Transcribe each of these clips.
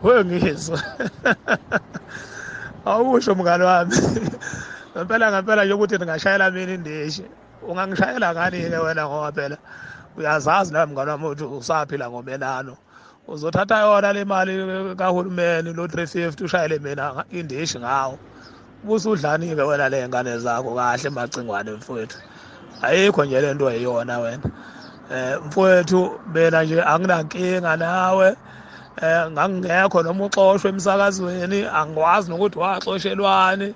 wewe ngizwa awusho mngane wami ngempela ngempela nje ukuthi ndingashayela mina indishi ungangishayela ngani-ke wena ngoba phela uyazazi nawe mngane wami ukuthi usaphila ngomenano uzothatha yona le mali kahulumeni lo 350 ushayele mina indishi ngawo busudlani-ke wena le ngane zakho kahle macingwane mfowethu ayikho nje le nto eyona wena um mfowethu mina nje anginankinga nawe um ngangingekho noma uxoshwe emsakazweni angikwazi nokuthi waxoshelwani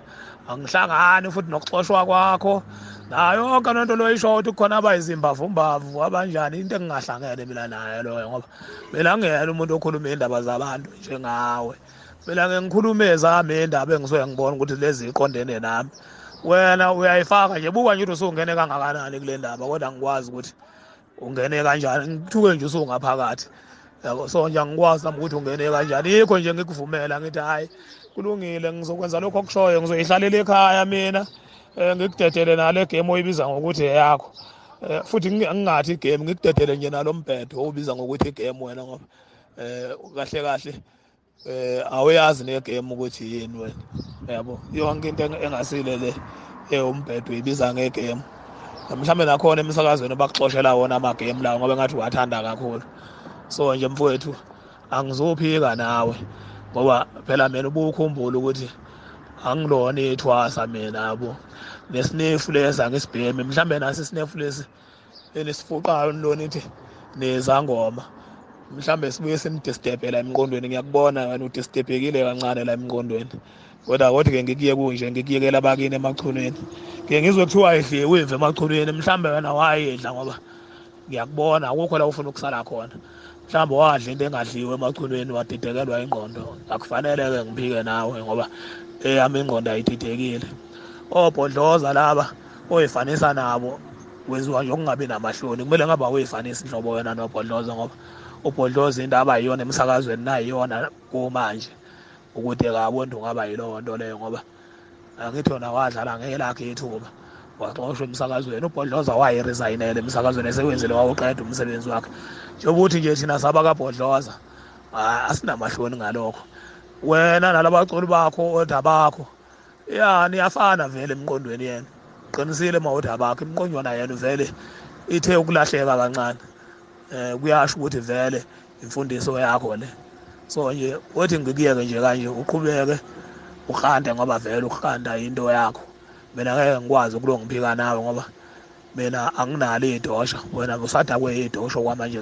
angihlangani futhi nokuxoshwa kwakho nayo yonke lento loyisho ukuthi kukhona abayizimbavu-mbavu abanjani into engingahlangene mina nayo loyo ngoba mina ngiyena umuntu okhuluma iy'ndaba zabantu njengawe mina ngikhuluma ezami iy'ndaba engisuke ngibona ukuthi lezi iqondene nami wena uyayifaka nje buka nje ukuthi usungene kangakanani kule ndaba kodwa ngikwazi ukuthi ungene kanjani ngithuke nje usungaphakathi yabo so nje angikwazi nami ukuthi ungene kanjani yikho nje ngikuvumela ngithi hhayi kulungile ngizokwenza lokho okushoyo ngizoyihlalela ekhaya mina um ngikudedele nale game oyibiza ngokuthi eyakho um futhi ngingathi igame ngikudedele nje nalo mbhedo owubiza ngokuthi igame wena ngoba um kahle kahle eh awuyazi ne game ukuthi yini wena yabo yonke into engasile le eh umbhedo ibiza nge game mhlawumbe nakhona emsakazweni bakuxoshela wona ama game lawo ngoba ngathi wathanda kakhulu so nje mfowethu angizophika nawe ngoba phela mina ubukhumbula ukuthi angilona ithwasa mina yabo nesinefu lesi angisibhemi mhlawumbe nasi isinefu lesi enisiphoxayo nilona ithi nezangoma mhlawumbe sibuye simdistebhe la emqondweni ngiyakubona wena udistebhekile kancane la emqondweni kodwa kodwa ke ngikuye kunje ngikuyekela bakini emachunwini ke ngizwe kuthiwa idliwe imvu emachunwini mhlawumbe wena wayedla ngoba ngiyakubona akukho la ufuna ukusala khona mhlawumbe wadla into engadliwe emachunwini wadidekelwa ingqondo akufanele-ke ngiphike nawe ngoba eyami ingqondo ayididekile obhodloza laba oyifanisa nabo wenziwa nje ukungabi namahloni kumele ngabe awuyifanisi nhlobo wena nobhodloza ngoba ubhodloza into abayiyona emsakazweni nayiyona kumanje ukuthi kabontu ngaba yilowo nto leyo ngoba angithi yona wadlala ngelakhe ithuba waxoshwa emsakazweni ubhodloza wayeresayinele emsakazweni esewenzile wawuqeda umsebenzi wakhe njengoba uthi nje thina saba kabhodloza asinamahloni ngalokho wena nalabaculi bakho odabakho ya niyafana vele emqondweni yena qinisile mawodaba bakhe imqonjwana yena vele ithe ukulahleka kancane eh kuyasho ukuthi vele imfundiso yakho le so nje wethi ngikuyeke nje kanje uqhubeke ukhande ngoba vele ukhanda into yakho mina ngeke ngikwazi ukulongiphika nawe ngoba mina anginalo idosha wena usadakwe idosha kwamanje